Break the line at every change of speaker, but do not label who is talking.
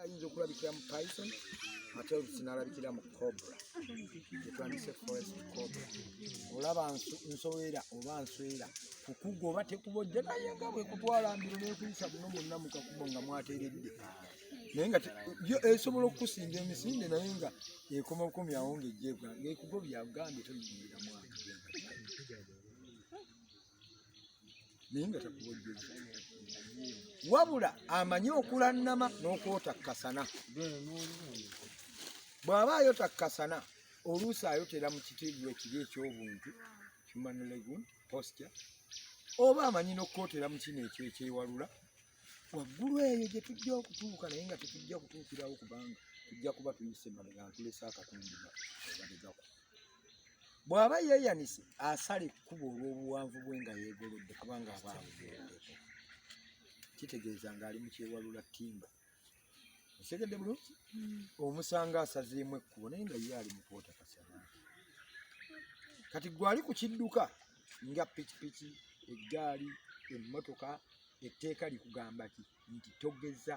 ayinza okulabikira mu python ate olusinalabikira mu cobra etwandise forest cobra olaba nsowera oba nswera kukuga oba tekubojja naye nga bwekutwala mbiro nekuyisa buno munna mukakubo nga mwateredde naye nga yo esobola okukusinga emisinde naye nga ekoma bukomi awo nga ejjebwa ngaekugo byagambye toyingira mwaka naye nga takubojjeza wabula amanyi okulannama n'okwotakkasana bw'aba ayotakkasana oluusi ayotera mu kitiibwa ekibi eky'obuntu human legun posture oba amanyi n'okukwotera mu kino ekyo ekyewalula waggulu eyo gye tujja okutuuka naye nga tetujja kutuukirawo kubanga tujja kuba tuyise mabega nkulesa akatundu obadegako bw'aba yeeyanise asala ekkubo olw'obuwanvu bwe nga yeegolodde kubanga aba abugendeko kitegeeza ng'ali mu kyewalula ttimba osegedde bulungi hmm. omusanga asazeemu ekkubo naye nga ye ali mu kwota kasana kati gwali ku kidduka nga pikipiki eggaali emmotoka etteeka likugamba ki nti togeza